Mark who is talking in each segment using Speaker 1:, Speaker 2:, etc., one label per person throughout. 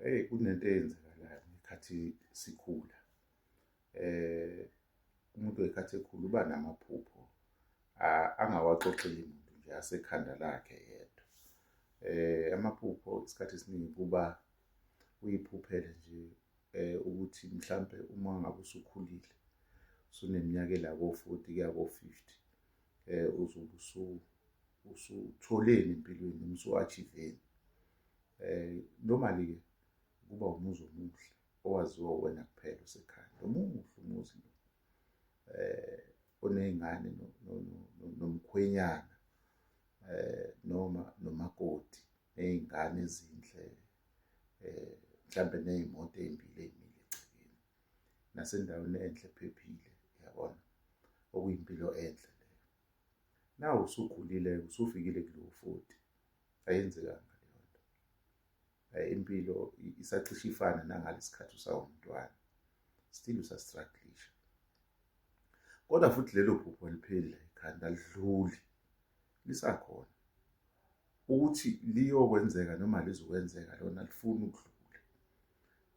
Speaker 1: Eyi kunento eyenzakalayo ngekhathi sikhula eh umuntu wekhathi ekhula uba namaphupho angawaxoxeli muntu nje asekhanda lakhe yedwa eh amaphupho isikhathi esiningi kuba uyiphuphele nje eh ukuthi mhlambe uma ngabe usukhulile suneminyaka la ko-40 kuya ko-50 eh uzobe usu usutholeni empilweni noma usu-achiveni eh normally ke kuba umuzi omuhle owaziwa wena kuphela usekhaya nomuhle umuzi lo eh oney'ngane nomkhwenyana eh noma nomakoti ney'ngane ezinhle eh mhlambe ney'moto ey'mbili ey'mile nasendaweni enhle ephephile yabona okuyimpilo enhle leyo nawe usukhulile usufikile kulowo futhi ayenzekanga leyo nto eh, impilo isacishe ifana nangalesikhathi usawumntwana still usastrugglisha kodwa futhi lelo phupho lipheli la ekhanda lidluli lisakhona ukuthi liyokwenzeka noma lizokwenzeka lona lifuna ukudlula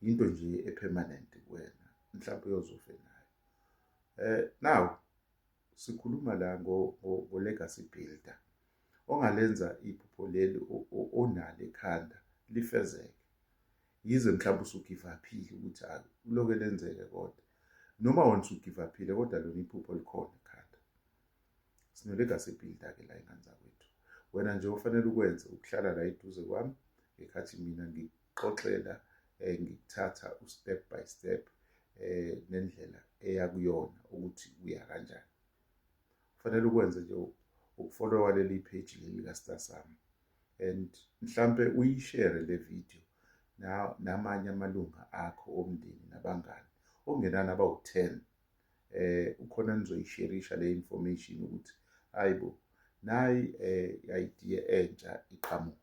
Speaker 1: yinto nje epermanent kuwena mhlawumbe uyozofe nayo eh now sikhuluma la ngo ngo legacy builder ongalenza iphupho leli onalo ekhanda lifezeke yize mhlawumbe usugivaphile ukuthi akuloke lenzeke kodwa noma wona usugivaphile kodwa lona iphupho likhona ekhanda Sine-legacy builder-ke la ingane zakwethu. Wena nje ofanele ukwenze ukuhlala la eduze kwami ngekhathi mina ngikuxoxela eh, ngikuthatha u-step by step eh, nendlela eya kuyona ukuthi uya kanjani. Kufanele ukwenze nje ukufolowa leli page leli ka-Star Sami and mhlampe uyishere le video na- namanye amalunga akho omndeni nabangani okungenani abawu-10 eh ukhona nizoyisherisha le information ukuthi hayibo nayi eh idea entsha iqhamuka